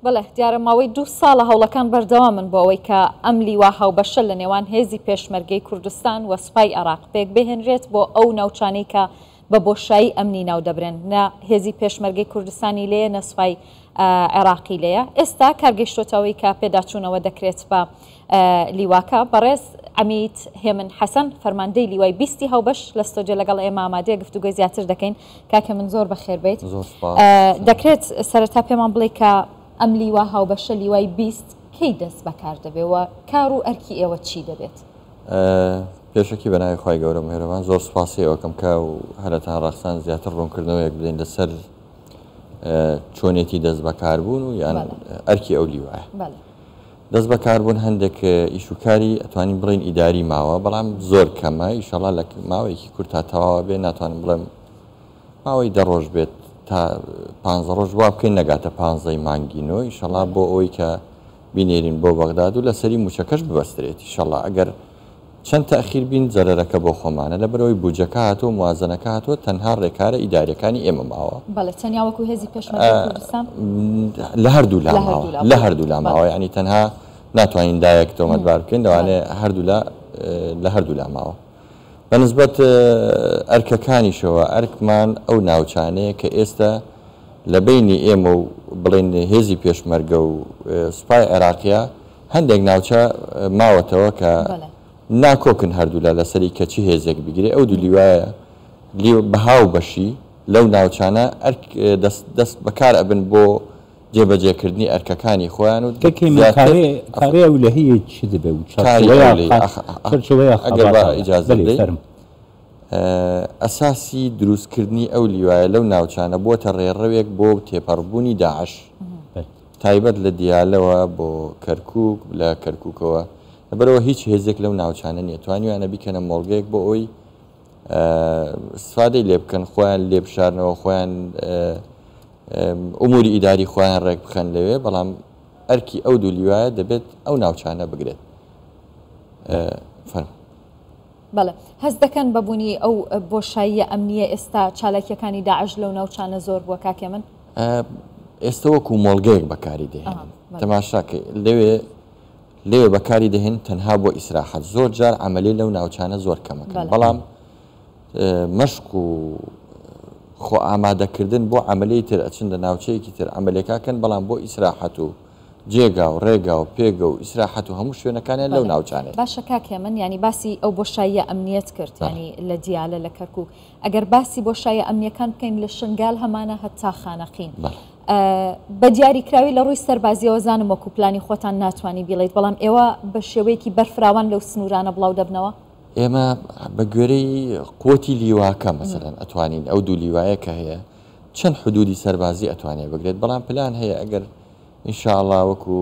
بەڵێ دیارە ماوەی دوو ساڵە هەوڵەکان بەردەوامن بۆ ئەوەی کە ئەم لیوا هاوبەشە لە نێوان هێزی پێشمەرگەی کوردستان و سوپای عێراق پێکبهێنرێت بۆ ئەو ناوچانەی کە بە بۆشایی ئەمنی ناودەبرێن نە هێزی پێشمەرگەی کوردستانی لێیە نە سوپای عێراقی لێیە ئێستا کارگەیشتۆتە ئەوەی کە پێداچوونەوە دەکرێت بە لیواکە بەڕێز عمید هێمن حەسەن فەرماندەی لیوای بیستی هاوبەش لە ستۆدیۆ لەگەڵ ئێمە ئامادەیە گفتوگۆی زیاتر دەکەین کاکە من زۆر بەخێر بێیت. زۆر سوپاس. دەکرێت سەرەتا پێمان بڵێی کە ئەم لیوا هاوبەشە لیوای بیست کەی دەست بەکار دەبێ و کار و ئەرکی ئێوە چی دەبێت؟ پێشەکی بە ناوی خوای گەورە مهێرەبان زۆر سوپاسی ئێوەکەم کە و هەرەتان ڕەخسان زیاتر ڕوونکردنەوەیەک بدەین لەسەر چۆنێتی دەست بەکاربوون و یان ئەرکی ئەو لیوایە. دەست بەکاربوون هەندێک ئیش و کاری ئەتوانین بڵێین ئیداری ماوە بەڵام زۆر کەمە ئیشەڵا لە ماوەیەکی کورت تا تەواوە بێ ناتوانم بڵێم ماوەی دەڕۆژ بێت تا پانزە ڕۆژ وا بکەین نەگاتە پانزەی مانگی نۆ ئیشەڵا بۆ ئەوەی کە بینێرین بۆ بەغداد و لەسەری موچەکەش ببەسترێتی شەڵا ئەگەر چەند تاخیر بین زەرەرەکە بۆ خۆمانە لەبەرئەوەی بودجەکە هاتووە موازەنەکە هاتووە تەنها رێکارە ئیداریەکانی ئێمە ماوە. بەڵێ تەنیا وەکو هێزی پێشمەرگەی کوردستان. لە هەردوولا ماوە لە هەردوولا ماوە یانی تەنها ناتوانین لایەک تۆمەتبار بکەین لەوانەیە هەردوولا لە هەردوولا ماوە بە نسبەت ئەرکەکانیشەوە ئەرکمان ئەو ناوچانەیە کە ئێستە لە بەینی ئێمە و بڵێین هێزی پێشمەرگە و سوپای عێراقیە هەندێک ناوچە ماوەتەوە کە ناکۆکن هەردوولا لەسەری کە چ هێزێک بگرێ ئەو دوو لیوایە لیو بەها و بەشی لەو ناوچانە ئەرک دەست دەست بەکار ئەبن بۆ جێبەجێکردنی ئەرکەکانی خۆیان و دەکەی من زیاتر کارێ کارێ ئەو لە هەیە چ دەبێ و کاری چەڕچەوەیە ئەولەی خا- ئەخ ئەخ چەرچەوەیە ئەگەر با خەباتاوە ئیجازە بەلێ بدەی فەرم ئە، ئەساسی دروستکردنی ئەو لیوایە لەو ناوچانە بووەتە ڕێڕەوێک بۆ تێپەڕبوونی داعش. بەلێ. تایبەت لە دیالەوە بۆ کەرکوک، لە کەرکوکەوە لەبەرئەوە هیچ هێزێک لەو ناوچانە نیە توانیویانە بیکەنە مۆڵگەیەک بۆ ئەوەی ئیستفادەی لێ بکەن خۆیان لێ بشارنەوە خۆیان ئەموری ئیداری خۆیان ڕێک بخەن لەوێ بەڵام ئەرکی ئەو دوو لیوایە دەبێت ئەو ناوچانە بگرێت فەرموو. بەڵێ هەست دەکەن بە بونی ئەو بۆشاییە ئەمنیە ئێستا چالاکیەکانی داعش لەو ناوچانە زۆر بووە کاک هێمن؟ ئێستە وەکو مۆڵگەیەک بەکاری دەهێنن تەماشاکە لەوێ لێ بەکاری دەهێن تەنها بۆ ئیسراحەت زۆر جار ئەمەلێ لەو ناوچانە زۆر کەمەکەن بەڵام مەشق و خۆ ئامادەکردن بۆ ئەمەلی تر ئەچن لە ناوچەیەکی تر ئەمەلێکاکەن بەڵام بۆ ئیسراحەت و جێگا و ڕێگا و پێگە و ئیسراحەت و هەموو شوێنەکانیان لەو ناوچانەیە. باشە کاک هێمن یانی باسی ئەو بۆشاییە ئەمنیەت کرد یانی لە دیالە لە کەرکوک ئەگەر باسی بۆشایە ئەمنیەکان بکەین لە شنگال هەمانە هەتا خانەقین بە دیاری کراوی لە ڕووی سەربازیەوە زانم وەکو پلانی خۆتان ناتوانی بیڵێیت بەڵام ئێوە بە شێوەیەکی بەرفراوان لەو سنورانە بڵاو دەبنەوە؟ ئێمە بە گوێرەی قوتی لیواکە مەسەلەن ئەتوانین ئەو دوو لیوایە کە هەیە چەند حدودی سەربازی ئەتوانێ بگرێت بەڵام پلان هەیە ئەگەر ان شاء اللە وەکو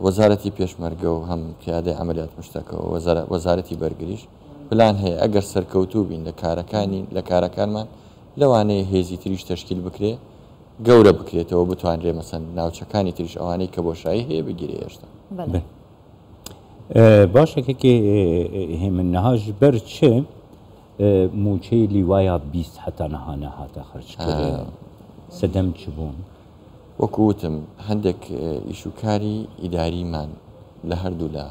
وەزارەتی پێشمەرگە و هەم پیادەی عەمەلیات مشتەکەوە وەزارەتی بەرگریش پلان هەیە ئەگەر سەرکەوتوو بین لە کارەکانی لە کارەکانمان لەوانەیە هێزی تریش تەشکیل بکرێ گەورە بکرێتەوە بتوانرێ مەسەن ناوچەکانی تریش ئەوانەی کە بۆشایی هەیە بگیرێ هێشتا باشەکەکی هێمن نەهاش بەر چێ؟ موچەی لیوایا بیست هەتا نها نهاتە خەرج کرێن سەدەم چ بوون؟ وەکو وتم هەندێک ئیش و کاری ئیداریمان لە هەردوو لا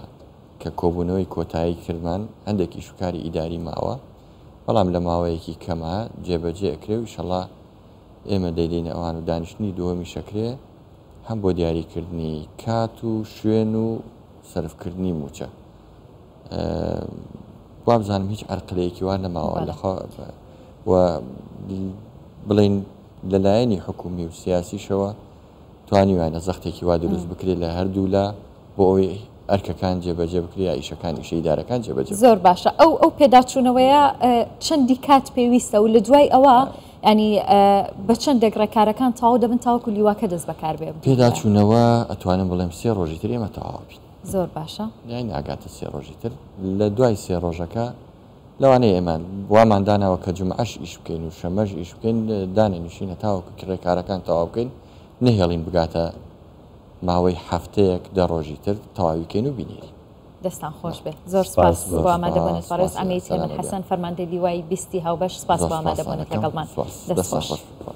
کە کۆبوونەوەی کۆتایی کردمان هەندێک ئیش و کاری ئیداری ماوە بەڵام لە ماوەیەکی کەما جێبەجێ ئەکرێ و ئیشەڵا ئێمە دەیدەینە ئەوان و دانیشتنی دووەمیش ئەکرێ هەم بۆ دیاری کردنی کات و شوێن و سەرف کردنی موچە. وابزانم هیچ عەرقلەیەکی وا نەماوە لە بڵین لەلایەنی حکومی و سیاسیشەوە توانیوانە زەختێکی وا دروست بکرێت لە هەردوولا بۆ ئەوەی ئەرکەکان جێبەجێ بکریا ئیشەکان ئیشەیدارەکان جێبەجێ زۆر باشە ئەو ئەو پێداچوونەوەیە چەندی کات پێویستە و لە دوای ئەوە ینی بە چەند دەگڕێکارەکان تاو دەبن تاوەکو لیواکە دەست بەکاربێ پێداچوونەوە ئەتوانم بڵێم سێ ڕۆژی تر ئێمە تەواو بین زۆر باشە. یانی ناگاتە سێ ڕۆژی تر لە دوای سێ ڕۆژەکە لەوانەیە ئێمە وامان داناوە کە جومعەش ئیش بکەین و شەمەش ئیش بکەین دانەنیشین هەتاوەکو کرێکارەکان تەواو بکەین نەهێڵین بگاتە ماوەی هەفتەیەک دە ڕۆژی تر تەواوی کەین و بینێری. دەستتان خۆش بێت زۆر سپاس سپاس بۆ زۆر ئامادەبوونت سپاس بەڕێز سپاس ئەمیر سەلام تێمن علیکم. حەسەن فەرماندەی لیوای بیستی هاوبەش سپاس بۆ زۆر سپاس ئامادەبوونت سەلام علیکم لەگەڵمان سپاس دەست دەستتان خۆش خۆش.